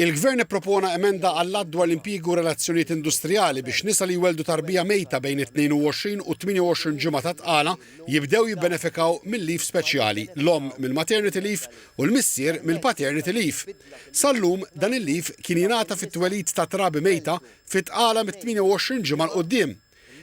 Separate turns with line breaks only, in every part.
Il-Gvern ippropona emenda għall-Att dwar l-Impjiegi u r-Relazzjonijiet Industrijali biex nisa li jwelldu tarbija mejta bejn it-22 u t-28 ġimgħa ta' tqala jibdew jibbenefikaw mil-leave speċjali, l-omm mill-maternity leave u l-missier mill-paternity leave. Sal-lum, dan il-leave kien jingħata fit-twelid ta' trabi mejta fi tqala mit-28 ġimgħa 'l quddiem.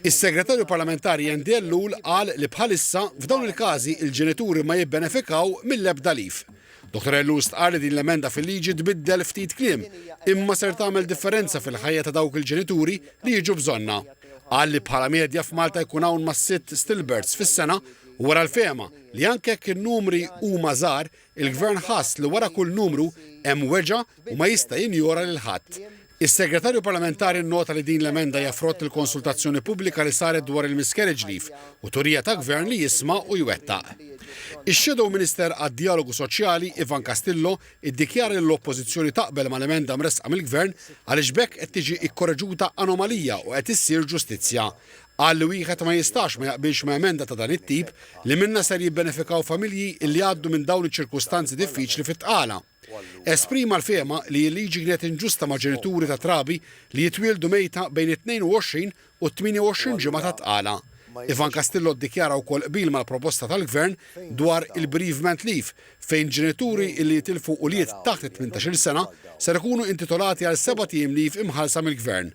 Is-Segretarju Parlamentari Andy Ellul qal li bħalissa, f'dawn il-każi, il-ġenituri ma jibbenefikaw mill-ebda leave. Dottor Ellul stqarr li din l-emenda fil-liġi tbiddel ftit kliem, imma ser tagħmel differenza fil-ħajja ta' dawk il-ġenituri li jiġu bżonnha. Qal li bħala medja f'Malta jkun hawn ma' sitt stillbirths fis-sena u wera l-fehma li anke jekk in-numri huma żgħar, Il-Gvern ħass li wara kull numru hemm weġgħa u ma jista' jinjora lil ħadd. Is-Segretarju Parlamentari nnota li din l-emenda hija frott il-konsultazzjoni pubblika li saret dwar il-miscarriage leave u turija ta' Gvern li jisma' u jwettaq. Ix-Shadow Minister għad-Djalogu Soċjali, Ivan Castillo, iddikjara li l-Oppożizzjoni taqbel mal-emenda mressqa mill-Gvern għaliex b'hekk qed tiġi kkoreġuta anomalija u qed issir ġustizzja. Qal li wieħed ma jistax ma jaqbilx ma' emenda ta' dan it-tip li minnha ser jibbenefikaw familji li jgħaddu minn dawn iċ-ċirkustanzi diffiċli fit-tqala. Esprima l-fehma li l-liġi kienet inġusta ma' ġenituri ta' trabi li jitwieldu mejta bejn it-22 u t-28 ġimgħa ta' tqala. Ivan Castillo ddikjara wkoll qbil mal-proposta tal-Gvern dwar il-bereavement leave fejn ġenituri li jitilfu ulied taħt it-tmintax-il sena ser ikunu intitolati għal sebat ijiem leave imħallsa mill-Gvern.